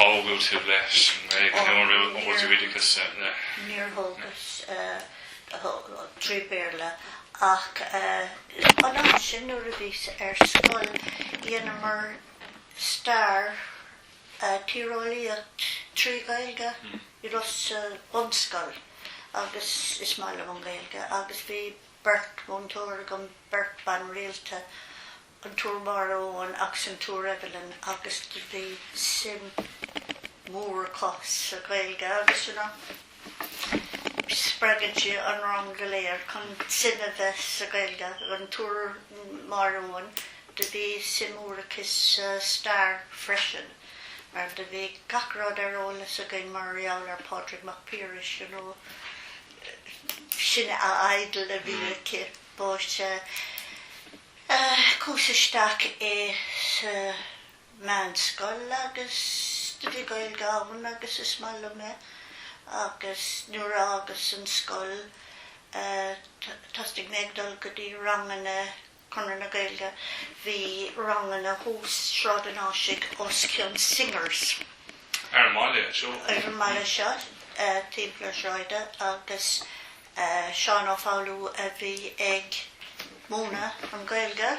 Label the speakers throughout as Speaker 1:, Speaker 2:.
Speaker 1: ábalta leis an nGaeilge nó an raibh an
Speaker 2: oideachas le? Níor thógas trí Béarla ach an am sin nuair a bhíos ar scoil dhéanamar stair tíreolaíocht trí Gaeilge i Ros sa bunscoil agus is maith liom an Gaeilge agus bhí beirt mhúinteoir agam, beirt ban rialta, an tSiúr Máire Eoin agus an tSiúr Evelyn agus do bhí suim mór acu sa Ghaeilge agus you know spreagann sí an rang go léir chun suim a bheith sa Ghaeilge. An tSiúr Máire Eoin do bhí suim mór aici sa stair freisin mar do bhí gach rud ar eolas againn mar gheall ar Pádraig Mac Piarais you know sin a idol a bhí aici but eh Chuas isteach i sa mheánscoil agus do bhí Gaeilge ann agus is maith liom é agus nuair a fhágas an scoil thosaigh mé ag dul go dtí ranganna Conradh na Gaeilge. Bhí ranganna thuas Sráid an Áisigh os cionn Singers. Ar an
Speaker 1: mbaile seo. Ar an mbaile seo,
Speaker 2: timpeall na sráide agus Seán Ó Foghlú a bhí ag múineadh an Gaeilge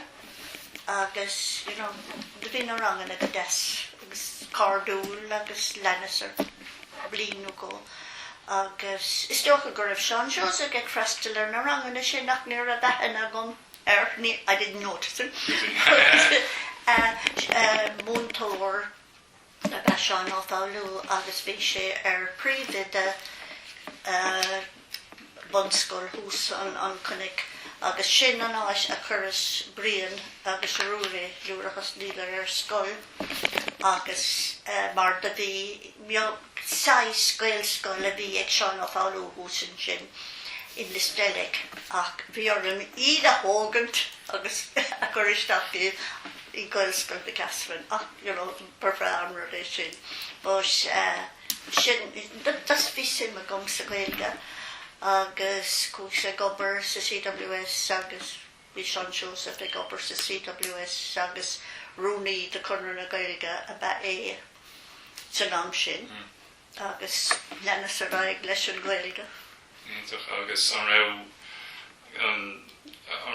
Speaker 2: agus you know do bhí na ranganna go deas agus cairdiúil agus leanas ar bhliain nó dhó agus is dócha go raibh Seán Seosamh ag freastal ar na ranganna sin ach ní raibh aithne agam air, I didn't notice him, but eh, múinteoir. ab ea Seán Ó Foghlú agus bhí sé ar phríomhoide bunscoil thuas an cnoic agus sin an áit a chuireas Brian agus Ruairí nuair a thosnaíodar ar scoil agus mar do bhí saghas Gaelscoil a bhí ag Seán Ó Foghlú thuas ansin i Lios Teilic ach bhí orainn iad a thógaint agus a chur isteach i i Gaelscoil Mhic Easmainn ach you know ba bhreá an rud é sin but sin just bhí suim agam sa Ghaeilge agus chuaigh sé ag obair sa CWS agus bhí Seán Seosamh ag obair sa CWS agus rúnaí de Conradh na Gaeilge ab ea é san am sin agus leanas ar aghaidh leis an Ghaeilge. Iontach agus
Speaker 1: an raibh an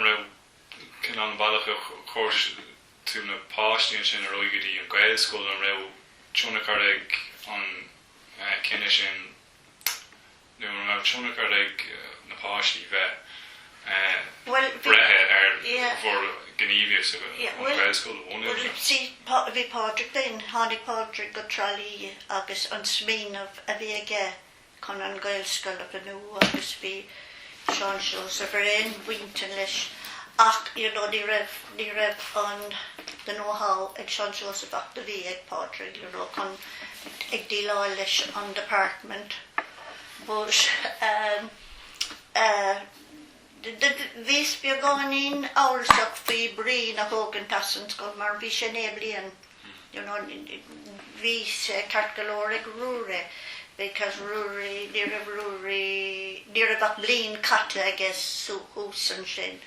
Speaker 1: raibh Cén bealach ar chuir sibh na páistí ansin ar aghaidh go dtí an Gaelscoil? An raibh tionchar ag an gcinneadh sin nó an raibh tionchar ag na páistí bheith breithe ar bhur ngníomhaíocht sa an Gaelscoil a bhunú? Bhuel, bhí Pádraig féin,
Speaker 2: tháinig Pádraig go Trá Lí agus an smaoineamh a bhí aige chun an Ghaelscoil a bhunú agus bhí Seán Seosamh ar aon intinn leis ach you know ní raibh, ní raibh the know how ag Seán Seosamh ach do bhí ag Pádraig you know chun ag díleáil leis an department but ehm, eh, Do bhíos beagáinín amhrasach faoi Brian a thógaint as an scoil mar bhí sé naoi mbliain, you know, bhí sé ceart go leor ag Ruairí because Ruairí, ní raibh Ruairí, ní raibh ach bliain caite aige thuas ansin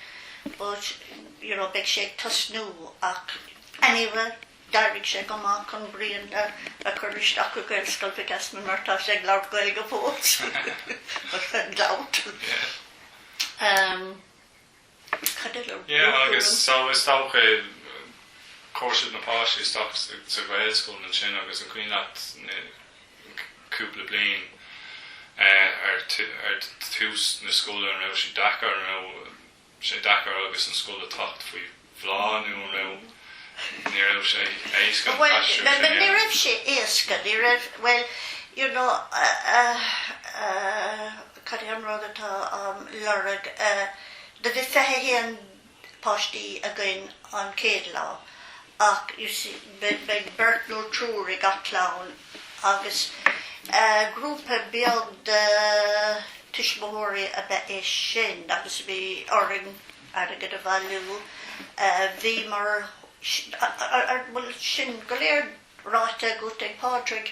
Speaker 2: but, you know, bheadh sé ag tosnú ach anyway, D'oibrigh sé go maith chun Brian a chur isteach i Gaelscoil Mhic Easmainn mar tá sé ag labhairt Gaeilge fós. An
Speaker 1: gabhalt. Cad eile a bhfuil ann? Agus so is dócha chuir siad na páistí isteach sa Ghaelscoil ansin agus an cuimhin leat na cúpla bliain ar tús na scoile an raibh siad deacair nó sé deacair agus an scoil a theacht faoi bhláth nó an raibh, ní raibh sé éasca an t-aistriú sin a dhéanamh? Bhuel, ní
Speaker 2: raibh sé éasca, ní raibh, bhuel, you know, cad é an rud atá á lorg, do bhí fiche haon páistí againn an chéad lá ach, you see, bheadh beirt nó triúr i gach clann agus grúpa beag de tuismitheoirí ab ea é sin agus bhí orainn airgead a bhailiú. Bhuel sin go léir ráite agam ag Pádraig.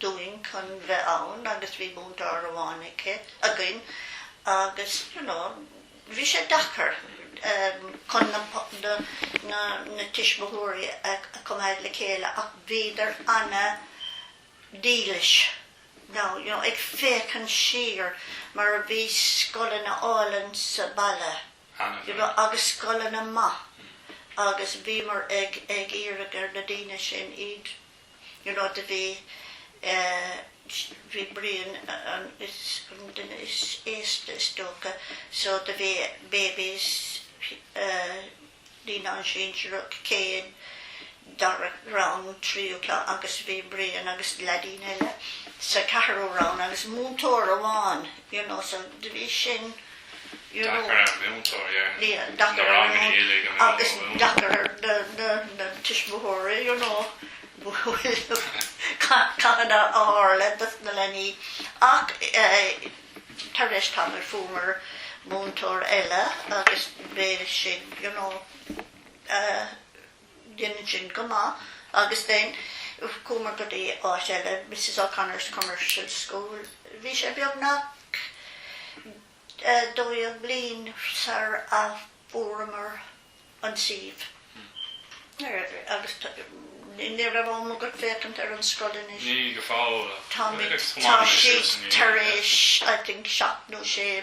Speaker 2: dúinn chun bheith ann agus bhí múinteoir amháin aici, againn agus you know bhí sé deacair chun na na na tuismitheoirí a choimeád le chéile ach bhíodar ana dhílis now you know ag féachaint siar mar bhí scoileanna álainn sa baile you know agus scoileanna maithe agus bhíomar ag ag iarraidh ar na daoine sin iad You know do bhí bhí Brian an an duine is aosta is dócha so do bhí babies naíonáin sinsearach céad, dara rang, tríú cla agus bhí Brian agus leaidín eile sa ceathrú rang agus múinteoir amháin, you know, so do bhí sin. Deacair ar an múinteoir, ar na ranganna uilig a bheith Agus deacair ar na tuismitheoirí, you know, cad a tharla dos na leanaí. Ach tar éis tamaill fuaireamar múinteoir eile agus bhí sin, you know, Dhein sin go maith agus then chuamar go dtí áit eile, Misses O'Connor's Commercial School. Bhí sé beagnach dhá bhliain sar a fuaireamar an suíomh agus ní raibh am agat ag féachaint ar an scoil anois. Ní go fóill.
Speaker 1: Táimid, tá
Speaker 2: siad tar éis I think seacht nó sé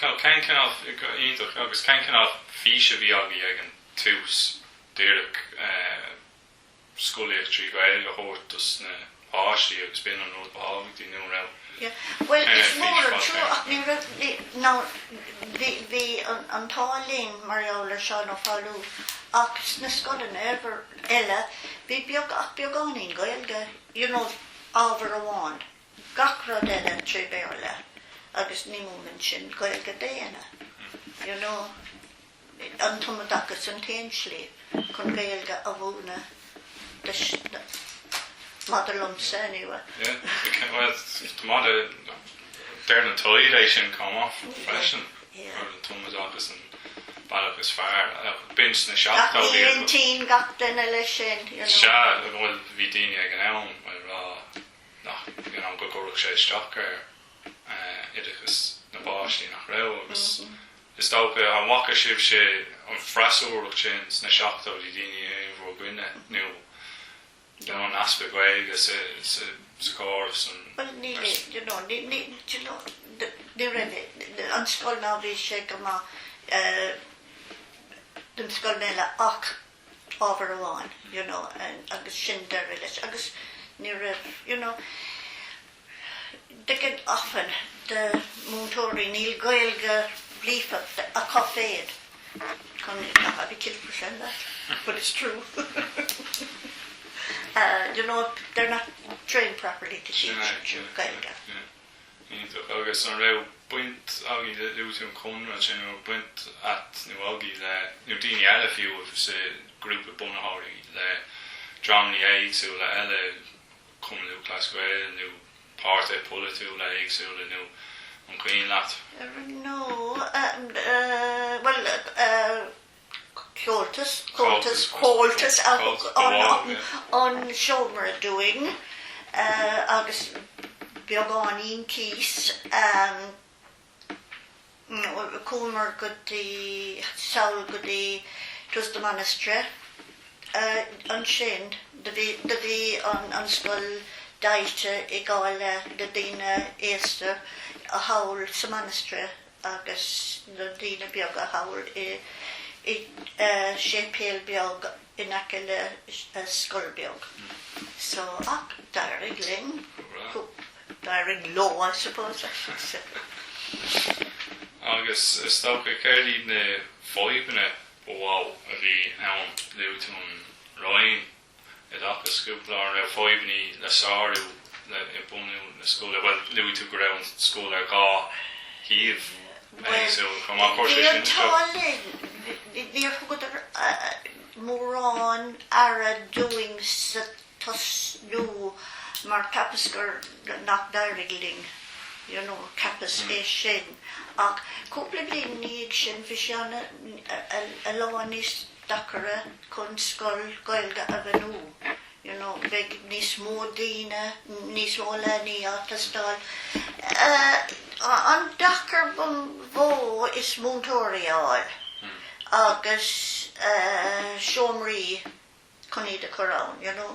Speaker 1: Cén cineál iontach agus cén cineál fís a bhí agaibh ag an tús díreach scolaíocht trí Ghaeilge a thabhairt dos na páistí agus b'in an rud ba thábhachtaí nó an raibh Bhuel
Speaker 2: is mór an trua ach ní raibh ná bhí bhí an t-ádh linn mar gheall ar Seán Ó Foghlú ach sna scoileanna eile bhí beagáinín Gaeilge, you know ábhar amháin. gach rud eile trí Bhéarla agus ní múineann sin Gaeilge d'éinne, you know, an tumoideachas an t-aon slí chun Gaeilge a mhúineadh dos na, maidir liomsa anyway. Yeah,
Speaker 1: well, coimeáda, deir na Toiv é sin chomh maith freisin, an tumoideachas an bealach is fearr, b'in sna seachtóidí. Gach intinn,
Speaker 2: gach duine leis sin, you know. Sea, bhuel,
Speaker 1: bhí daoine ag an am ag rá go gcuirfeadh sé isteach ar oideachas na bpáistí nach raibh agus is dócha an bhfaca sibhse an freasúracht sin sna seachtóidí, daoine in bhur gcoinne nó an easpa Gaeilge sa chóras
Speaker 2: an scoil ná bhí sé go maith don scoil eile ach. ábhar amháin you know agus sin deireadh leis agus ní raibh you know d'fhéadfainn a lán de mhúinteoirí níl Gaeilge líofa acu féin I'll be killed for saying that but it's true you know they're not trained properly to teach Gaeilge.
Speaker 1: iontach. Agus an raibh baint agaibh le luaigh tú an Conradh ansin, an raibh baint a't nó agaibh le, nó daoine eile fiú a bhí sa ghrúpa bunaitheoirí le dreamanna éagsúla eile, Cumann Lúthchleas Gael nó páirtithe polaitiúla éagsúla nó an cuimhin leat? Nó,
Speaker 2: bhuel, Comhaltas, comhaltas, comhaltas a thug an seomra dúinn agus beagáinín cíos. Chuamar go dtí, sall go dtí 'twas the Monastery. Ansin do bhí, do bhí an scoil deighilte i dhá leath, na daoine aosta thall sa Monastery. agus na daoine beaga thall i séipéal beag in aice le scoil beag so ach d'éirigh linn d'éirigh leo I suppose I should say.
Speaker 1: Agus is dócha céard iad na fadhbanna ba mhó a bhí ann luaigh tú an roinn i dtaca scoileanna raibh fadhbanna le sárú le i mbunú na scoile bhuel luaigh tú go raibh an scoil ar dhá shuíomh bhuel so chomh maith cur sé sin tá linn níor thugadar
Speaker 2: mórán aire dúinn sa tosnú mar cheapas gur nach d'éirigh linn you know cheapas é sin ach cúpla bliain i ndiaidh sin bhí sé ana a lán níos deacaire chun scoil Gaeilge a bhunú, you know beidh níos mó daoine, níos mó leanaí ag teastáil. An deacair ba mhó is múinteoirí a fháil agus seomraí chun iad a chur ann, you know.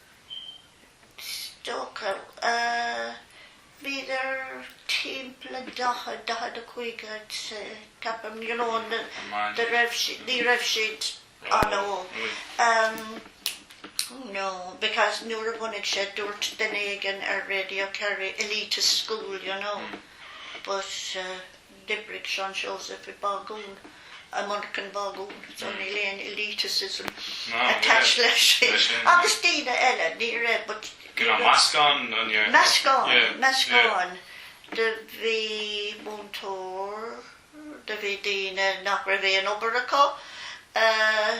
Speaker 2: is dócha bhíodar timpeall 40, 45 ceapaim, you know, ní raibh siad an-óg. No, because nuair a bhunaigh sé, dúirt duine éigin ar Radio Kerry, elitist school, you know, but. D'oibrigh Seán Seosamh i bágún, i monarchan bágún, so níl aon elitism attached leis sin, agus daoine eile, ní raibh but, you know, meascán,
Speaker 1: meascán, meascán
Speaker 2: de, bhí múinteoir, do bhí daoine nach raibh aon obair acu, eh,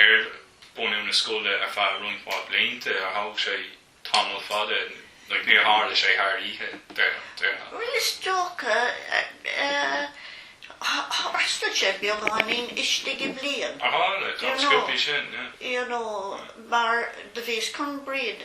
Speaker 1: ar bunú na scoile ar feadh roinnt mhaith blianta, thóg sé tamall fada, níor tharla sé thar oíche, déarfainn. Is
Speaker 2: dócha, tharla sé beagáinín istigh i bhliain. Ar tharla? Tá an scoil
Speaker 1: faoi sin, yeah. You know,
Speaker 2: mar do bhíos chun Bríd.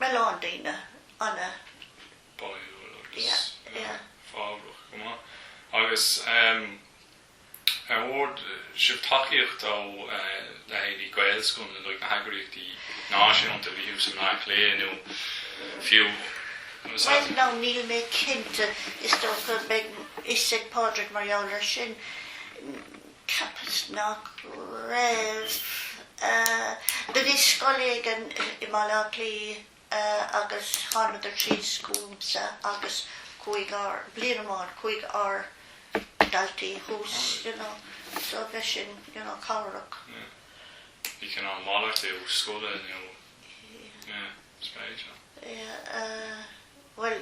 Speaker 2: a lán daoine ana-bháúil
Speaker 1: agus fabhrach go maith. Agus an bhfuair sibh tacaíocht ó leithéidí Gaelscoileanna nó na heagraíochtaí náisiúnta a bhí thuas i mBaile Átha Cliath nó fiú Bhuel
Speaker 2: now níl mé cinnte. Is dócha beidh fhios ag Pádraig mar gheall ar sin. Cheapas nach raibh. Do bhí scoil éigin i mBaile Átha Cliath agus thánadar dtí an scoil seo agus chuaigh ár, bliain amháin, chuaigh ár daltaí thuas you know so bheith sin you know cabhrach. Yeah. Bhí
Speaker 1: cineál malairt é ó scoile nó yeah.
Speaker 2: Bhuel,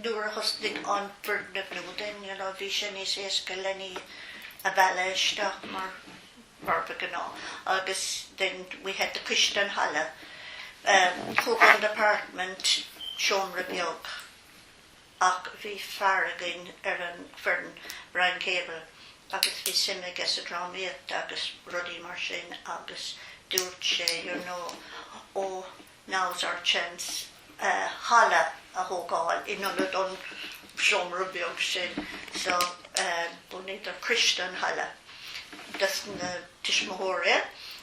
Speaker 2: nuair a thosnaigh an foirgneamh nua then you know, bhí sé níos éasca leanaí a mhealladh isteach mar mar ba ghnáth agus then we had the coiste an halla, thug an department seomra beag. ach bhí fear againn ar an bhfoireann, Brian Cable, agus bhí suim aige sa drámaíocht agus rudaí mar sin agus dúirt sé you know oh now's our chance halla a thógáil in ionad an seomra beag sin so bunaíodar coiste an halla dos na tuismitheoirí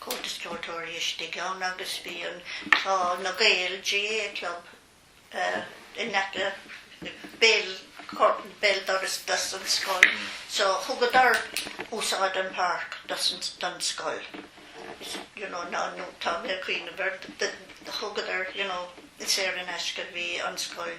Speaker 2: Comhaltas Ceoltóirí istigh ann agus bhí an, tá na Gaeil GAA club in aice béal, béal doras dos an scoil, so thugadar úsáid an páirc dos an, don scoil is you know ná tá mé a' cuimhneamh ar thugadar you know saor in aisce bhí an scoil,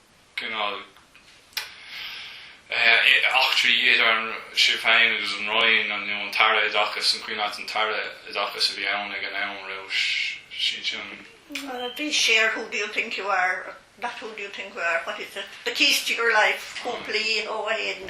Speaker 1: aon chineál eachtraí idir sibh féin agus an Roinn an nó an tAire Oideachais an cén t an tAire Oideachais a bhí ann ag an am raibh sé sin.
Speaker 2: Bhí sé ar Who Do You Think You Are not Who Do You Think You Are, What Is It? The Keys to Your Life cúpla oíche ó shin.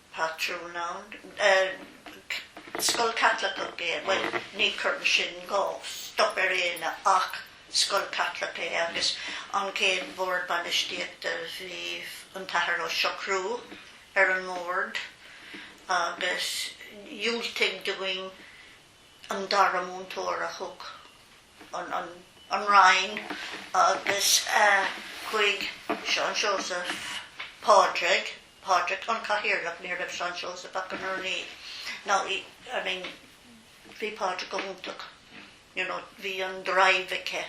Speaker 2: patrún ann. Scoil Chaitliceach é, bhuel, ní chuireann sin aon stop ar éinne ach scoil Chaitliceach é agus an chéad bhord bainistíochta bhí an tAthair Ó Siochrú ar an mbord agus dhiúltaigh dúinn an dara múinteoir a thug an Roinn agus chuaigh Seán Seosamh Pádraig, Pádraic, An Cathaoirleach, ní raibh Seán Seosamh ach an rúnaí, now I mean bhí Pádraic go hiontach, you know bhí an drive aige,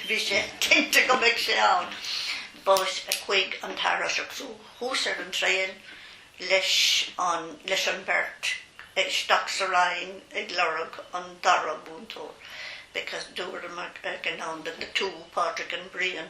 Speaker 2: bhí sé cinnte go mbeadh sé ann. But chuig an tairseach, so chuas ar an traein leis an, leis an bheirt, isteach sa Roinn ag lorg an dara múinteoir because dúradh ag an am that the two, Pádraic and Brian,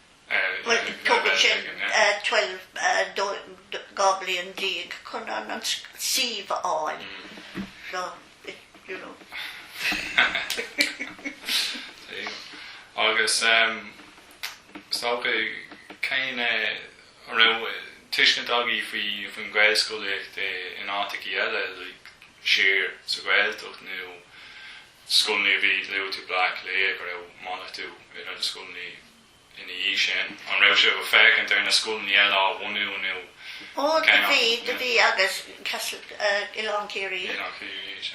Speaker 2: Tógann sé 12 bliain chun an suíomh a fháil.
Speaker 1: Agus is dócha cén raibh tuiscint agaibh faoin Ghaelscolaíocht in áiteachaí eile, like siar sa Ghaeltacht nó scoileanna a bhí luaigh tú Bleá Cliath go raibh malartú idir na scoileanna ina dhiaidh sin. An raibh sibh ag féachaint ar na scoileanna eile á bhunú nó Ó, do bhí,
Speaker 2: do bhí agus Castle, Oileán Ciarraí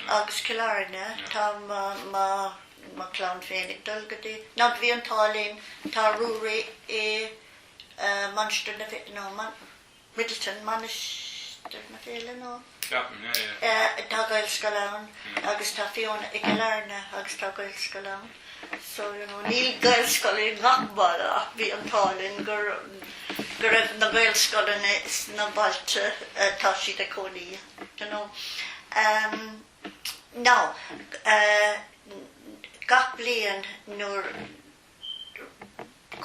Speaker 2: agus Cill Airne, tá mo, mo, mo chlann féin ag dul go dtí, now do bhí an t-ádh linn, tá Ruairí i Mainistir na, no, Midleton, Mainistir na Féile nó? Ceapaim, yeah, yeah. Eh, tá Gaelscoil ann agus tá Fiona i gCill Airne agus tá Gaelscoil ann. So, you know, níl Gaelscoil i ngach baile ach bhí an t-ádh linn gur, go raibh na Gaelscoileanna sna bailte atá siad ag cónaí, you know. Um, now, uh, gach bliain nuair.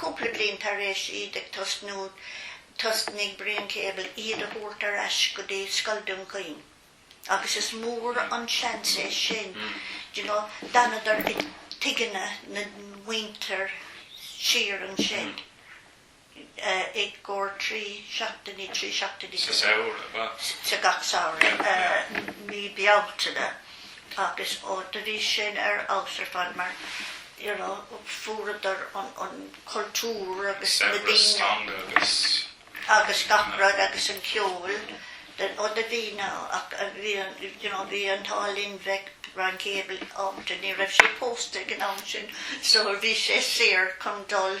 Speaker 2: Cúpla bliain tar éis iad ag tosnú, thosnaigh Brian Caball iad a thabhairt ar ais go dtí Scoil Dún Chaoin agus is mór an seans é sin, you know, d'fhanadar i dtigheanna na muintir siar ansin. i gcomhair
Speaker 1: trí seachtainí, trí seachtainí
Speaker 2: sa samhradh, sa gach samhradh, mí Bealtaine agus ó do bhí sin ar fheabhas ar fad mar you know fuaireadar an an cultúr agus na daoine agus agus gach rud agus an ceol den ó do bhí na ach a bhí an you know bhí an t-ádh linn bheith Brian Caball ábalta ní raibh sé pósta ag an am sin so bhí sé saor chun dul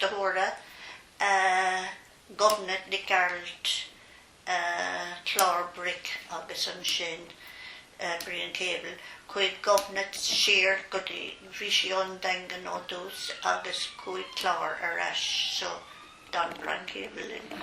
Speaker 2: De thoradh Ghobnait Nic Gearailt, Clár Bric agus ansin Brian Caball, chuaigh Gobnait siar go dtí, bhí sí ón Daingean ó dtús agus chuaigh Clár ar ais so d'fhan Brian Caball linn.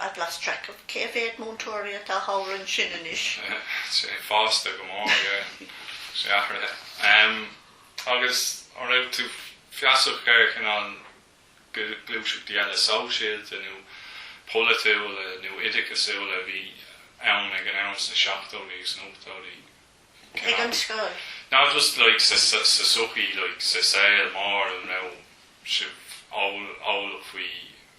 Speaker 2: I've
Speaker 1: lost track of cé mhéad múinteoirí atá thall ansin anois. Tá sé fásta go mór, yeah. Tá sé athraithe. Agus an raibh tú feasach ar cineál gluaiseachtaí eile sóisialta nó polaitiúla nó oideachasúla a bhí ann ag an am sna seachtóidí agus na hochtóidí? Ag an scoil?
Speaker 2: Ná just like
Speaker 1: sa tsochaí, like sa saol mór, an raibh sibh eolach faoi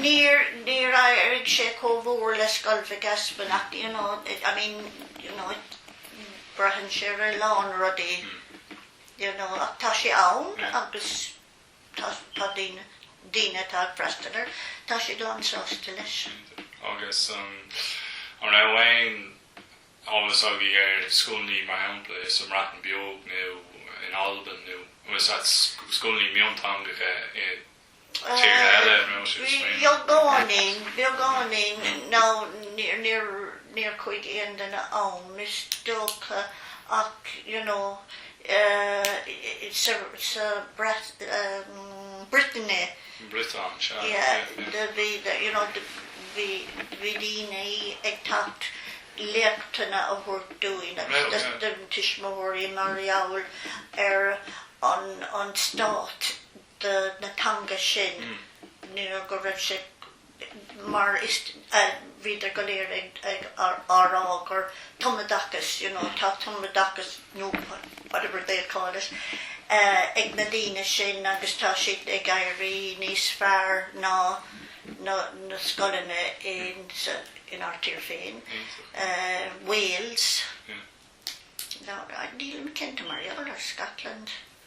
Speaker 2: níor, níor éirigh sé chomh mór le Scoil Mhic Easmainn ach you know, I mean, you know, braitheann sé ar a lán rudaí, you know, ach tá sé ann agus tá, tá daoine, daoine atá ag freastal air, tá siad lánsásta leis. Agus
Speaker 1: an, an raibh aon eolas agaibh ar scoileanna mar shampla sa mBreatain Bheag nó in Albain nó, nó was that scoileanna mionteangacha i,
Speaker 2: Beagáinín, beagáinín, nó níor chuaigh aon duine ann, is dócha, ach you know Brittany,
Speaker 1: bhí
Speaker 2: daoine ag teacht chun léachtanna a thabhairt dúinn agus do na tuismitheoirí mar gheall ar an stát. de na teanga sin nuair go raibh sé mar is bhíodar go léir á rá gur tumoideachas you know tá tumoideachas nó whatever they call it ag na daoine sin agus tá siad ag éirí níos fearr ná na na scoileanna in sa in ár tír féin Wales nílim cinnte mar gheall ar Scotland.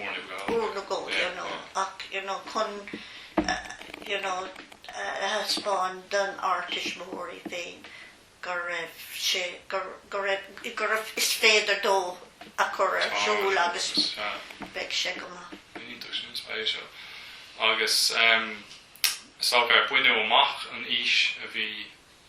Speaker 2: Ár
Speaker 1: na gcomhair, you
Speaker 2: know, ach, you know, chun, you know, a thaispeáin don ár tuismitheoirí féin go raibh sé, go, go raibh, go raibh, is féidir leo é a chur ar siúl agus beidh sé go maith. Iontach sin, spéisiúil.
Speaker 1: Agus, ehm, is dócha ar baineadh amach an fhís a bhí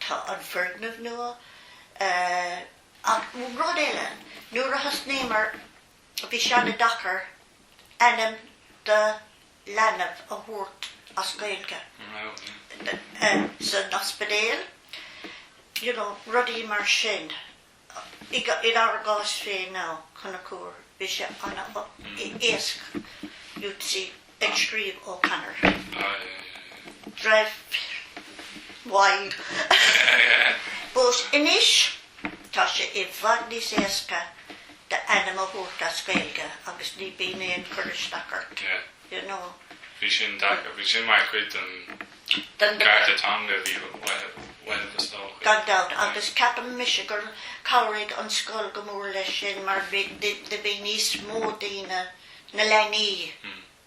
Speaker 2: Tá an foirgneamh nua ach rud eile, nuair a thosnaíomar bhí sé ana deacair ainm do leanbh a thabhairt as Gaeilge san ospidéal, you know, rudaí mar sin. I ár gcás féin Ó Conchúir, bhí sé an-éasca, U3, ag scríobh O'Connor, Drive Wild, but anois tá sé i bhfad níos éasca d'ainm a thabhairt as Gaeilge agus ní bíonn aon chur isteach ort. you
Speaker 1: know. Bhí sin deacair, bhí sin mar chuid den gcearta teanga a bhí uaibh is dócha. Gan dabht, agus
Speaker 2: ceapaim mise gur chabhraigh an scoil go mór leis sin mar bhí níos mó daoine, na leanaí,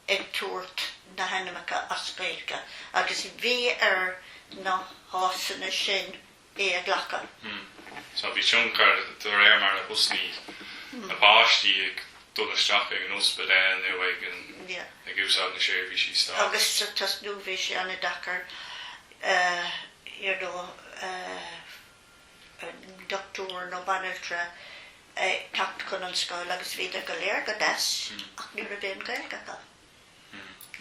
Speaker 2: ag tabhairt na hainmeacha as Gaeilge agus bhí ar na háiseanna sin é a ghlacadh. So
Speaker 1: bhí tionchar de réir mar a thosnaigh na páistí ag dul isteach ag an ospidéal nó ag úsáid na seirbhísí stáit. Agus sa tosnú
Speaker 2: bhí sé an-deacair you know dochtúir nó banaltra a teacht chun an scoil agus bhíodar go léir go deas ach ní raibh aon Ghaeilge acu.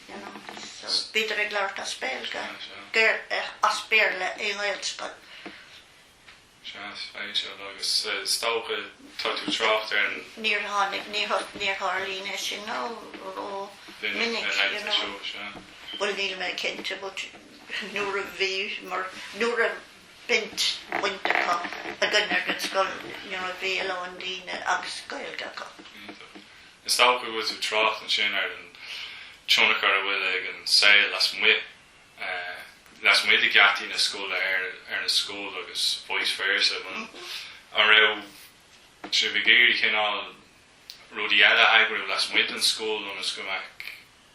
Speaker 2: you know, so bíodar ag labhairt as Béilge, as Béarla i nGaelscoil.
Speaker 1: Agus is dócha tá tú trácht ar an. Níor tháinig,
Speaker 2: níor tharlaíonn é sin rómhinic, you know. Bhuel níl mé cinnte nuair a bhí, mar nuair a baint, bainteach againn ar an scoil, you know, bhí a lán daoine agus Gaeilge acu.
Speaker 1: Is dócha go bhfuil tú trácht ansin ar an tionchar a bhfuil ag an saol lasmuigh, lasmuigh de gheataí na scoile ar an scoil agus vice versa. An raibh sibh ag iarraidh cineál rudaí eile a eagrú lasmuigh den scoil ionas go mbeadh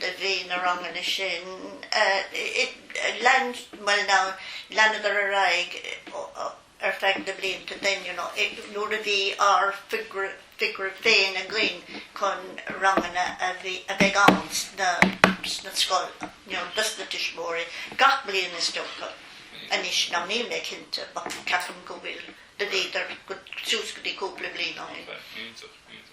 Speaker 2: do bhí na ranganna sin. Leanadar ar aghaidh ar feadh na blianta den nuair a bhí ár bhfigiúr féin againn chun ranganna a bheith insan scoil dos na tuismitheoirí gach bliain is dócha. Anois ná níl mé cinnte, ach ceapaim go bhfuil, do bhíodar suas go dtí cúpla bliain ó shin.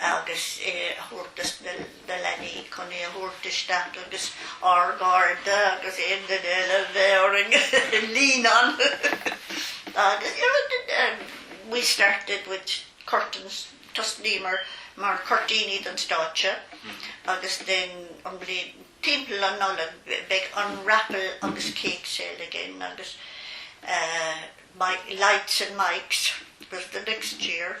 Speaker 2: agus é a thabhairt do na leanaí chun é a thabhairt isteach agus ár gcairde agus aon duine eile a bheimis in ann agus you know we started with curtains, tosnaíomar mar cuirtíní don stáitse agus then an bhliain timpeall an Nollaig beidh an raffle agus cake sale again agus lights and mics was the next year.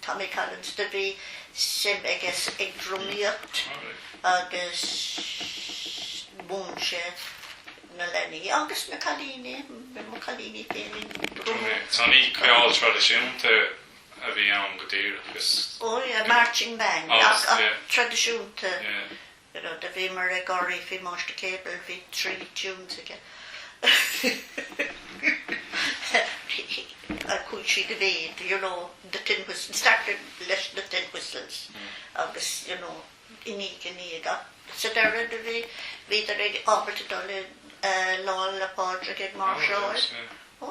Speaker 2: Tommy Collins do bhí suim aige sa ag drumadóireacht agus mhúin sé na leanaí agus na cailíní, bhí mo cailíní féin ag
Speaker 1: drumadh. Tá mé, ceol traidisiúnta a bhí ann go díreach is. Ó yeah, marching
Speaker 2: band, ach, ach traidisiúnta. Yeah. rud a bhíomar ag gáirí faoi máistir Caball bhí trí tunes aige ach chuaigh sé i méid you know the tin whistles started leis na tin whistles agus you know i ndiaidh a chéile ach sa deireadh do bhí bhíodar ábalta dul i Lá 'le Pádraig ag máirseáil ó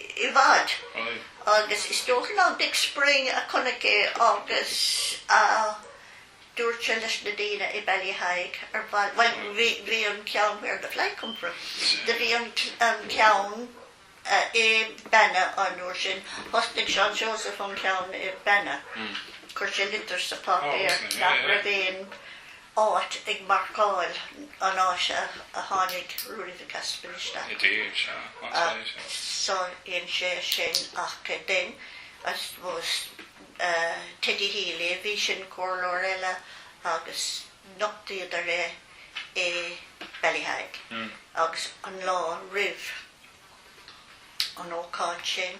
Speaker 2: i bhfad. Agus is dócha ná Dick Spring a chonaic é agus a dúirt sé leis na daoine i Ballyheigue ar mhaith libh, bhuel, bhí, bhí an ceann where the flag came from, do bhí an, an ceann i Banna an uair sin, thosnaigh Seán Seosamh an ceann i Banna, chuir sé litir sa pháipéar nach raibh aon, áit ag marcáil an áit a tháinig Ruairí Mhic Easmuinn i
Speaker 1: dtír. So,
Speaker 2: sin é sin, ach then, I suppose, Teddy Healy ab ea é sin, comhairleoir eile agus nochtaíodar é i Ballyheigue agus an lá roimh an ócáid sin,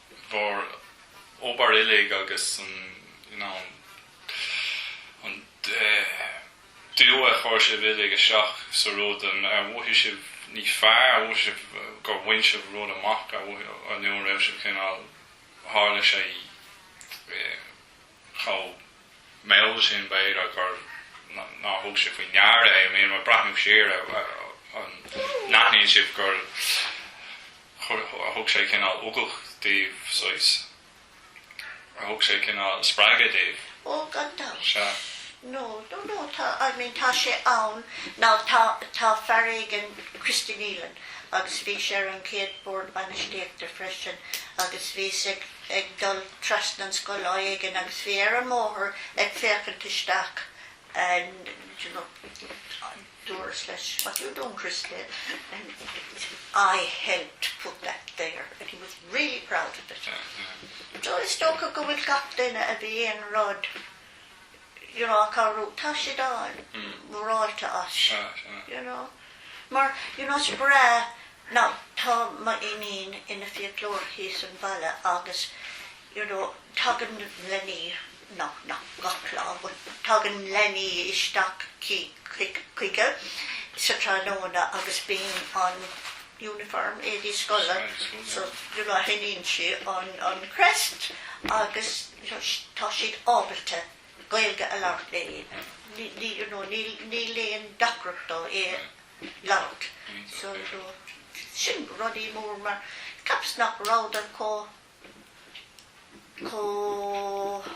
Speaker 1: bhur n-obair uilig agus an you know an dua a chuir sibh uilig isteach sa rud ar mhothaigh sibh níos fearr ar mhothaigh sibh gur bhain sibh rud amach ar mhothaigh nó an raibh sibh cineál tharla sé i chomh mall sin b'fhéidir nár thug sibh faoi deara é. I mean, ag breathnú siar, an n-aithníonn sibh gur thug sé cineál ugach daoibh saghas? Ar thug sé cineál spreagadh daoibh? Ó, gan
Speaker 2: dabht. Sea.
Speaker 1: No,
Speaker 2: no, no, tá, I mean, tá sé ann. Now, tá, tá fear éigin, Christy Nealon, agus bhí sé ar an gcéad bord bainistíochta freisin, agus bhíos ag, ag dul thar an scoil lá éigin agus bhí sé ar an mbóthar ag féachaint isteach and you know dúras leis what you doing Christy and I helped put that there and he was really proud of it so is dócha go bhfuil gach duine a bhí aon rud you know acu air, tá siad an-mhórtasach as, you know. Mar, you know, is breá now tá m'iníon ina fiaclóir thíos sa bhaile agus, you know, tagann leanaí, now, ní gach lá, but tagann leanaí isteach chuici sa tráthnóna agus bíonn an uniform, éadaí scoile, so, you know, chíonn sí an crest agus, tá siad ábalta Gaeilge a labhairt le you know níl aon deacracht dóibh í a labhairt so you know sin rud an-mhór mar ceapas nach rabhadar chomh chomh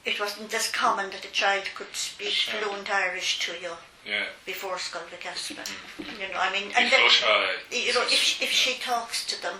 Speaker 2: it wasn't as common that a child could speak fluent Irish to you Yeah. before
Speaker 1: Scoil Mhic
Speaker 2: Easmainn came. You know, I mean, and then, you know, if, if she talks to them,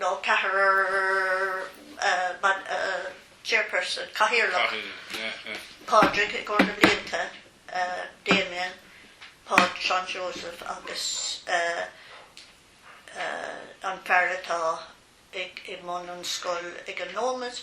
Speaker 2: nó ceathrar chairperson, cathaoirleach, Pádraig i gcomhair na blianta, Damien, Páid, Seán Seosamh agus an fear atá i mbun an scoil ag an nóiméad,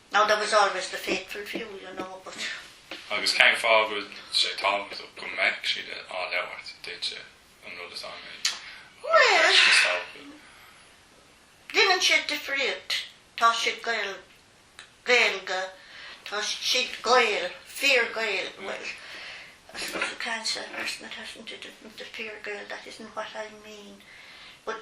Speaker 2: Now there was always the faithful few, you know, but. Agus
Speaker 1: cén fáth a bhfuil sé tábhachtach go mbeadh siad á labhairt duitse, an rud is annamh is?
Speaker 2: Bhuel. déanann sé difríocht. Tá siad Gael, Gaeilge, tá siad Gaeil, fíor-Ghaeil, bhuel, I suppose you can't say a person that hasn't it isn't a fíor-Gael, that isn't what I mean, but.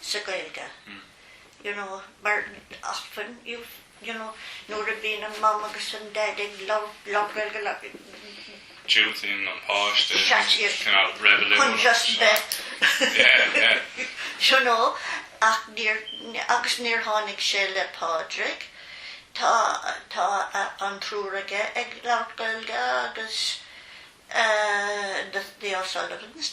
Speaker 2: sa Gaeilge you know mar often you know nuair a bhíonn an Mam agus an Daid ag labhairt Gaeilge
Speaker 1: diúltaíonn an páiste Shut it! cineál reibiliúnach chun just bheith yeah yeah
Speaker 2: you know ach níor agus níor tháinig sé le Pádraig. Tá tá an triúr aige ag labhairt Gaeilge agus eh the the O'Sullivans.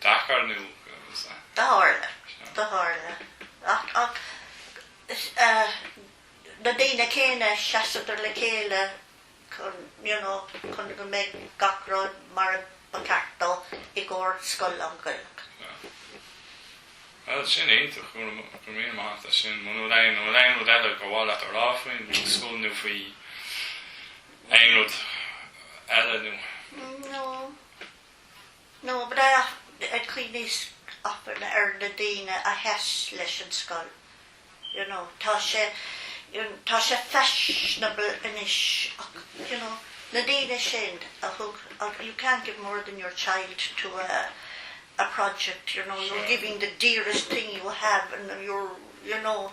Speaker 1: deacair nó agus a. Tharla,
Speaker 2: tharla. Ach, ach, is ea, na daoine céanna a sheasadar le chéile chun, you know, chun go mbeidh gach rud mar ba cheart dó i gcomhair scoil lán-Ghaelach.
Speaker 1: Yeah. Bhuel, sin iontach, go raibh míle maith as sin. Bhuel, bhfuil aon, bhfuil aon rud eile gur mhaith leat a rá faoin scoil nó faoi aon rud eile nó? No.
Speaker 2: No but I, cuimhníos often ar na daoine a sheas leis an scoil? You know, tá sé, tá sé fashionable anois ach, you know, na daoine sin a thug, you can't give more than your child to a, a project, you know, you're giving the dearest thing you have and you're, you know.